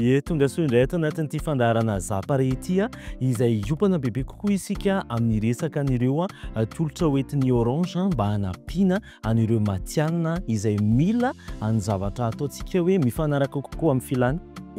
Ye, tongasoa indray ato anatin'ity fandaharana Zapari ity izay hiompana bebe kokoa isika amin'ny resaka an'ireo tolotra hoentin'ny Orange mba hanampiana an'ireo matihanina izay mila ny zavatra ataontsika hoe mifanaraka kokoa amin'ny filàny.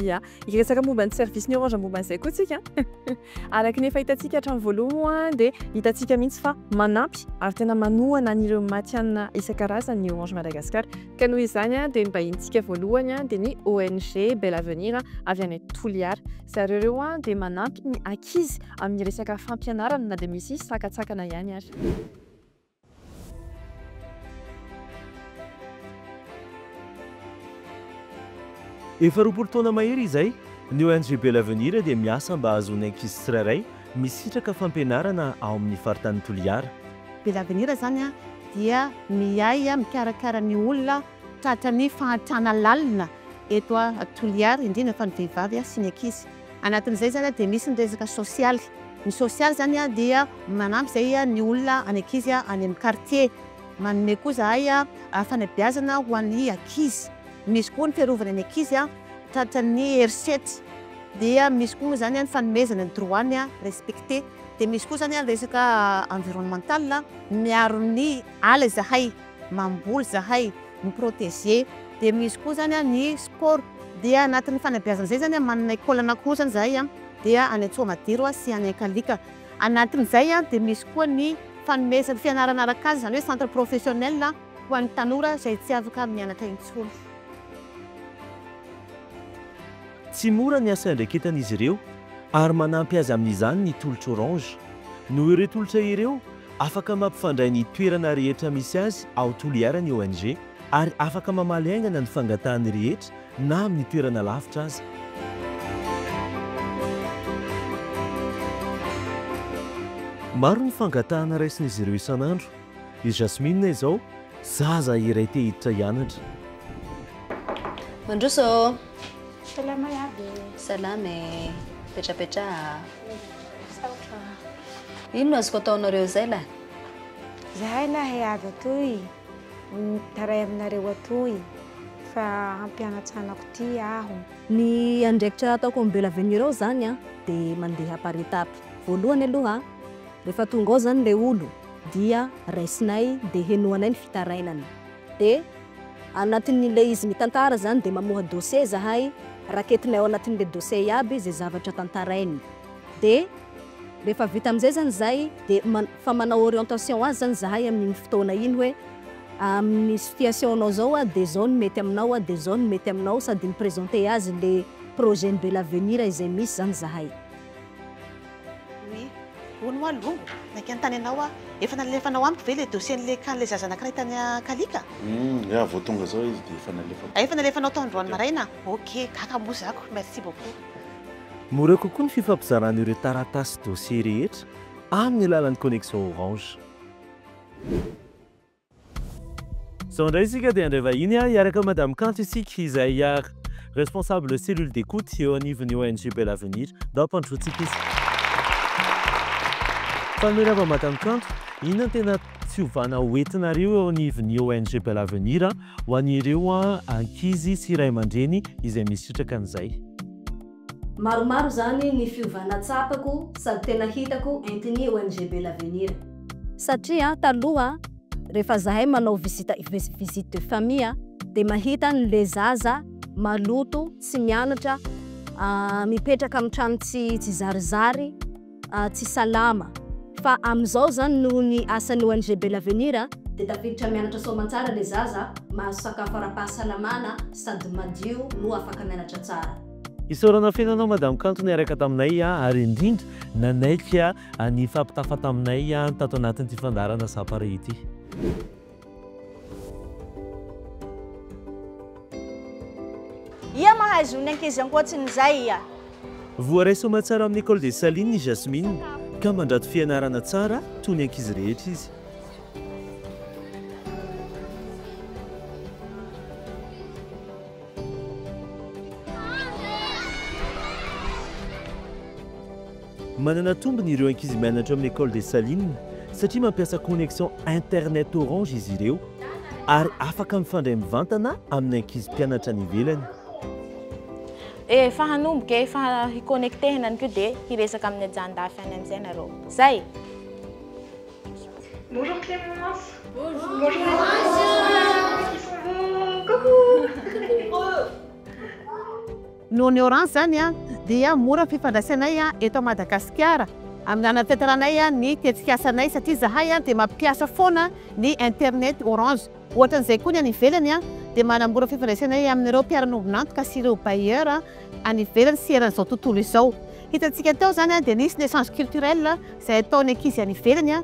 Ia, hiresaka momba ny service-n'ny Orange momba an'izay koa isika an! Araka ny efa hitantsika hatramin'ny voalohany moa dia hitantsika mihitsy fa manampy ary tena manohana an'ireo matihanina isan-karazany ny Orange Madagascar. Ka noho izany dia ny vahinintsika voalohany dia ny ONG Bel Avenir avy any Toliara. Zareo ireo dia manampy ny ankizy amin'ny resaka fampianarana na dia misy sakantsakana ihany ary. Efa roapolo taona mahery izay, ny ONG Belle Avenir dia miasa mba hahazoan'ny ankizy tsirairay misitraka fampianarana ao amin'ny faritanin'i Toliara. Belle Avenir izany dia miahy mikarakara ny olona tratran'ny fahantrana lalina eto Toliara, indrindra fa ny vehivavy sy ny ankizy. Anatin'izay izany dia misy ny resaka sosialy. Ny sosialy izany dia manampy izay ny olona, ny ankizy any amin'ny kartie. Manome koa izahay fanabeazana ho an'ny ankizy. Misy koa ny fiarovana ny ankizy tratran'ny herisetra. Dia misy koa moa izany ny fanomezana ny droit-ny respecter. Dia misy koa izany ny resaka environnemental, miaro ny ala izahay. mamboly zahay ny proteger dia misy koa zany ny sport dia anatin'ny fanabeazana zay zany manana école anakiroa zany zahay a dia any Antsohamadiro a sy any Ankalika anatin'izay a dia misy koa ny fanomezana fianarana arakasa izany hoe centre professionnel ho an'ny tanora izay tsy afaka mianatra intsony. Tsy mora ny asa iandraiketan'izy ireo ary manampy azy amin'izany ny tolotra orange. Noho ireo tolotra ireo Afaka mampifandray ny toerana rehetra misy azy ao Toliara ny ONG ary afaka mamaly haingana ny fangatahany rehetra na amin'ny toerana lavitra aza. Maro ny fangatahana raisin'izy ireo isan'andro. I Jasmine izao, zaza iray te hiditra hianatra. Mandroso ô! Salama iaby e. Salama e. Petrapetraha. Misaotra. Ino no azoko ataonareo izay lahy? Izahay lahy avy atoy mitaray aminareo atoy fa hampianatsanako ity aho. Ny andraikitra ataoko amin'ny Bella Avenue ao izany an, dia mandeha par étape. Voalohany aloha, rehefa tonga ao izany ilay olo dia raisinay dia henoanay ny fitarainany. de anatin'ilay izy mitantara zany de mamoha dossier zahay, raketinay ao anatin'ilay dossier iaby zay zavatra tantarainy, de rehefa vita amizay zany zay de man- fa manao orientation azy zany zahay amin'iny fotoana iny hoe amin'ny situation nao zao a de zao no mety aminao a de zao no mety aminao sady mi-presenter azy le projet-n'i Belavenir izay misy zany zahay. Oui. Hono hoa longo, naika ny tany anao aho. Efa nalefanao amiko ve ilay dossier an'ilay can ilay zaza anankiray tany Ankaliaka? Humm, ya, vao tonga zao izy dia efa nalefako. Ah, efa nalefanao tao androany maraina? Ok, gaga moa za ko. Merci beaucoup. Mora kokoa ny fifampizarana ireo taratasy sy dossier rehetra amin'ny alalan'ny connexion Orange. Zao indray isika dia handray vahiny hiaraka amin'i Madame Kanto isika izay responsable cellule d'écoute eo anivon'ny ONG Bel Avenir. Ndao ampandrosoantsika izy. Mpanome lava Madame Kanto, inona no tena fiovana ho entinareo eo anivon'ny ONG Bel Avenir ho an'ireo ankizy sy ray aman-dreny izay misy sitraka an'izay? Maromaro izany ny fiovana tsapako sady tena hitako entin'ny ONG Bel Avenir. Satria taloha rehefa zahay manao visite visite de famille dia mahita ny le zaza maloto tsy mianatra mipetraka amin'ny trano tsy tsy zarizary, tsy salama fa amin'izao zany noho ny asan'ny ONG Bel Avenir dia tafiditra mianatra soamantsara ilay zaza, mahazo sakafo ara-pahasalamana sady madio no afaka mianatra tsara. Isaorana feno anao Madame Kanto niaraka taminay ary indrindra nanaiky ny hifampitafa taminay tato anatin'ity fandaharana Sapare ity. Ia mahay zo ny ankizy ankoatsin'izay ia? Voaray soa tsara amin'ny Ecole des Salines i Jasmine ka mandrato fianarana tsara toy ny ankizy rehetra izy. Manana tombony ireo ankizy mianatra amin'ny Ecole des Salines satria mampiasa connexion internet Orange izy ireo ary afaka mifandray mivantana amin'ny ankizy mpianatra any ivelany. Efa hanomboka e, efa hi-connectehina any koa dia hiresaka amin'ny ajan-dafy any amin'izay nareo. Zay! Bonjour Clémence. Bonjour. Bonjour les enfants. Bonjour. Ils sont beaux. Coucou. Noho ny orange izany dia mora ny fifandraisanay eto Madagasikara amin'ny hanatanteranay ny tetikasanay satria izahay dia mampiasa foana ny internet orange. Ohatran'izay koa ny any ivelany dia manamora fifandraisanay amin'ireo mpiara-miombon'antoka sy ireo bailleur any ivelany sy eran'izao tontolo izao. Hitantsika teo izany dia nisy ny echange culturel izay ataon'ny ankizy any ivelany.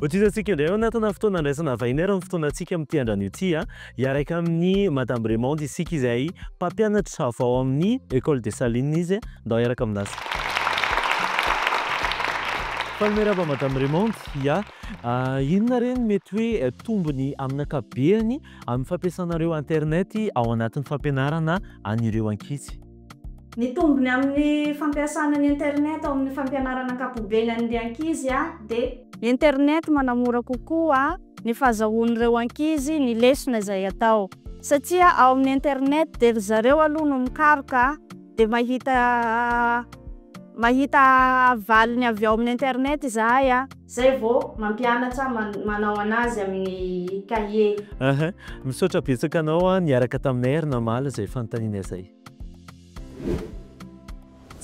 Hotohizantsika indray ao anatina fotoana handraisana vahiny ary ny fotoanantsika amin'ity andran'io ity. Hiaraka amin'i Madame Raymonde isika izay mpampianatra avy ao amin'ny Ecole des Salines izy. Ndao hiaraka aminazy. Mpanome raba Madame Raymonde. Ya, inona re ny mety hoe tombony amin'ny ankapobeny amin'ny fampiasanareo internet ao anatin'ny fampianarana an'ireo ankizy? Ny tombony amin'ny fampiasana ny internet ao amin'ny fampianarana ankapobeny an'ny ankizy dia. Ny internet manamora kokoa ny fahazahoan'ireo ankizy ny lesona izay atao satria ao amin'ny internet dia ry zareo aloha no mikaroka dia mahita mahita valiny avy ao amin'ny internet izahay. Zay vao mampianatra manao anazy amin'ny cahier. Aha, misaotra betsaka anao an niaraka taminay ary namaly izay fanontaniana izay.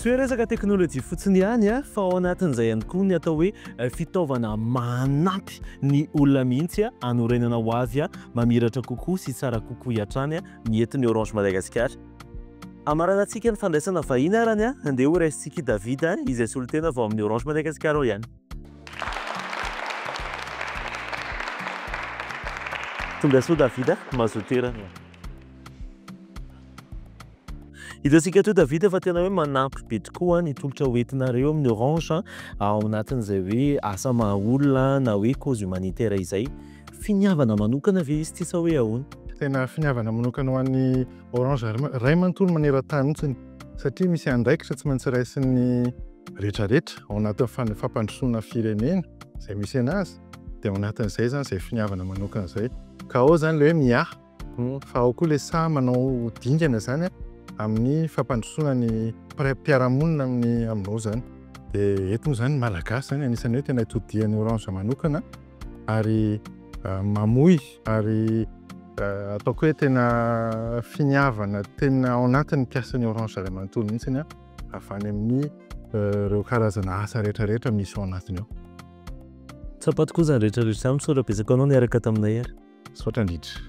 Tsy hoe resaka teknolojia fotsiny ihany an, fa ao anatin'izay ihany koa ny atao hoe fitaovana manampy ny olona mihitsy an, hanorenana ho avy mamiratra kokoa sy tsara kokoa hatrany ny eto ny Orange Madagascar. Hamaranantsika ny fandraisana vahiny arany an! Andeha ho raisintsika i David an! Izay solontena vao amin'ny Orange Madagascar ao ihany. Tongasoa David a! Mazoa toerana e! Hitantsika toa David fa tena hoe manampy be tokoa ny tolotra ho entinareo amin'ny Orange an! Ao anatin'izay hoe asa maha olona na hoe cause humanitaire izay. Finiavana manokana ve izy ity sa hoe ahoana? Tena finiavana manokana ho an'ny Orange ray manontolo maneran-tany mihitsy satria misy andraikitra tsy maintsy raisin'ny rehetra rehetra ao anatin'ny fampandrosoana firenena izay misy anazy dia ao anatin'izay zany izay finiavana manokana izay ka ao zany ilay hoe miahy fa ao koa ilay sahy manao dingana zany amin'ny fampandrosoana ny mpiara-monina amin'ny aminao zany dia eto moa zany malagasy zany anisan'ny hoe tena itodihan'ny orange manokana ary mamoy ary ataoko hoe tena finiavana tena ao anatin'ny mpiasan'ny Orange iray manontolo mihitsy ny avy any amin'ny ireo karazana asa rehetra rehetra misy ao anatiny ao. Tsapako koa izany rehetra rehetra izany, misaotra betsaka anao niaraka taminay ary. Misaotra indrindra.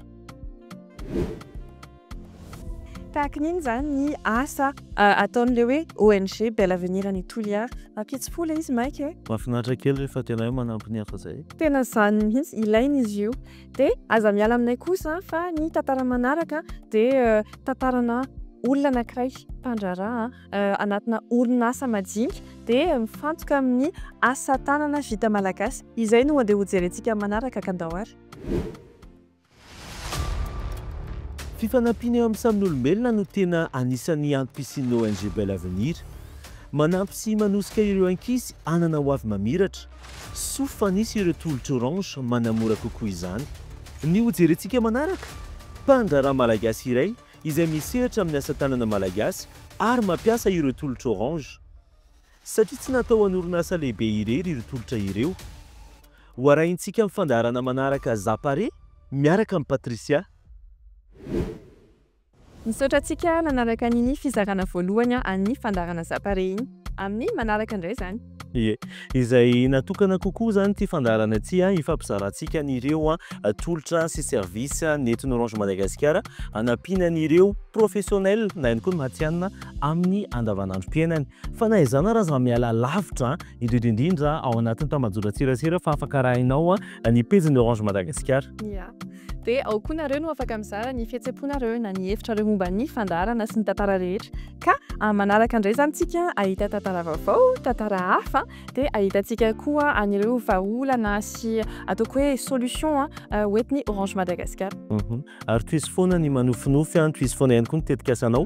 Tahaka ny inona izany ny asa ataon'ilay hoe ONG Bel Avenir any Toliara? Ampitso-po ilay izy maika e! Mahafinaritra kely rehefa tena hoe manampy ny hafa izay. Tena izany mihitsy, ilaina izy io. Dia aza miala aminay kosa fa ny tantara manaraka dia tantarana olona anankiray mpandraharaha anatina orinasa majinika dia mifantoka amin'ny asa tanana vita malagasy. Izay no andeha hojerentsika manaraka kandao ary. Fifanampiana eo amin'ny samin'olombelona no tena anisan'ny antoka hisian'ny ONG Bel Avenir. Manampy sy manosika ireo ankizy hanana ho avy mamiratra. Soa fa nisy ireo tolotra Orange manamora kokoa izany. Ny ho jerentsika manaraka? Mpandraharaha malagasy iray izay misehatra amin'ny asa tanana malagasy ary mampiasa ireo tolotra Orange. Satria tsy natao ho an'orinasa lehibe irery ireo tolotra ireo. Ho arahintsika amin'ny fandaharana manaraka Za Pare miaraka amin'i Patricia. Misaotra antsika nanaraka an'iny fizarana voalohany an'ny fandaharana Za Pare iny. Amin'ny manaraka indray izany. Ie. Izay natokana kokoa izany ity fandaharana ity hifampizarantsika an'ireo tolotra sy services nentin'Orange Madagasikara hanampiana an'ireo professionnels na ihany koa ny matihanina amin'ny andavanandrom-piainany. Fa na izany ary aza miala lavitra, indrindra indrindra ao anatin'ny tambajotran-tserasera fa afaka arahinao ny pejin'ny Orange Madagasikara. Ia. Dia ao koa nareo no afaka mizara ny fihetsem-ponareo na ny hevitrareo momba ny fandaharana sy ny tantara rehetra. Ka manaraka indray izany isika hahita tantara vaovao, tantara hafa, dia hahitantsika koa an'ireo vahaolana sy ataoko hoe solution ho entin'ny Orange Madagasikara. Ary tohizo foana ny manofinofy, tohizo foana ihany koa ny tetikasanao.